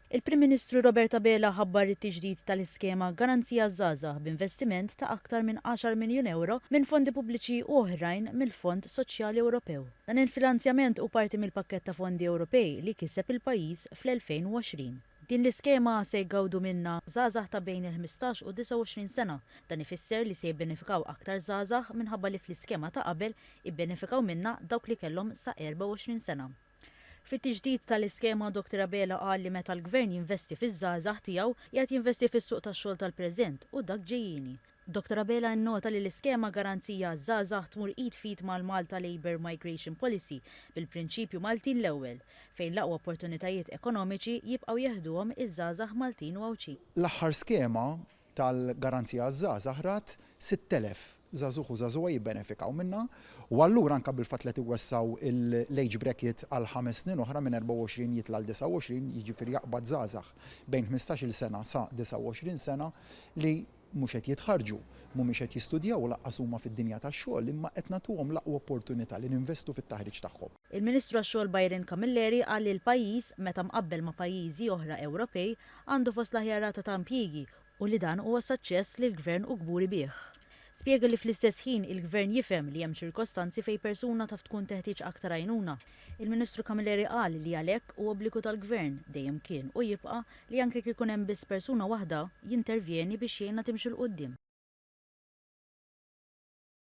Il-Prim Ministru Robert Abela ħabbar it-tiġdid tal-iskema Garanzija għaż-Żgħażagħ b'investiment ta' aktar minn għaxar miljun ewro minn fondi pubbliċi u oħrajn mill-Fond Soċjali Ewropew. Dan il-finanzjament hu parti mill-pakkett ta' fondi Ewropej li kiseb il-pajjiż fl-2020. Din l-iskema se jgawdu minnha żgħażagħ ta' bejn il-ħmistax u d-29 sena. Dan ifisser li se jibbenefikaw aktar żgħażagħ minħabba li fl-iskema ta' qabel ibbenefikaw minnha dawk li kellhom sa 24 sena. Fit-tiġdid tal-iskema, Dottor Abela qal li meta l-Gvern jinvesti fiż-żgħażagħ tiegħu, qiegħed jinvesti fis-suq tax-xogħol tal-preżent u dak ġejjieni. Dottor Abela nnota li l-iskema Garanzija għaż-Żgħażagħ tmur id f'id mal-Malta Labour Migration Policy bil-prinċipju Maltin l-ewwel, fejn l-aqwa opportunitajiet ekonomiċi jibqgħu jeħduhom iż-żgħażagħ Maltin u Għawdxin. L-aħħar skema tal-Garanzija għaż-Żgħażagħ rat 6,000 żagħżugħ u żagħżugħa jibbenefikaw minnha u allura anke bil-fatt li qed iwessgħu l-age bracket għal ħames snin oħra minn 24 jitla' għal 29, jiġifieri jaqbad żgħażagħ bejn ħmistax-il sena sa 29 sena li mhux qed jitħarrġu, mhumiex qed jistudjaw u lanqas huma fid-dinja tax-xogħol imma qed nagħtuhom l-aqwa opportunità li ninvestu fit-taħriġ tagħhom. Il-Ministru għax-Xogħol Byron Camilleri qal li l-pajjiż, meta mqabbel ma' pajjiżi oħra Ewropej, għandu fost l-aħjar rata ta' impjiegi u li dan huwa saċċess li l-Gvern hu kburi bih. Spjega li fl-istess ħin il-Gvern jifhem li hemm ċirkostanzi fejn persuna taf tkun teħtieġ aktar għajnuna. Il-Ministru Camilleri qal li għalhekk hu obbligu tal-Gvern, dejjem kien u jibqa', li anke jekk ikun hemm biss persuna waħda, jintervjeni biex jgħinha timxi 'l quddiem.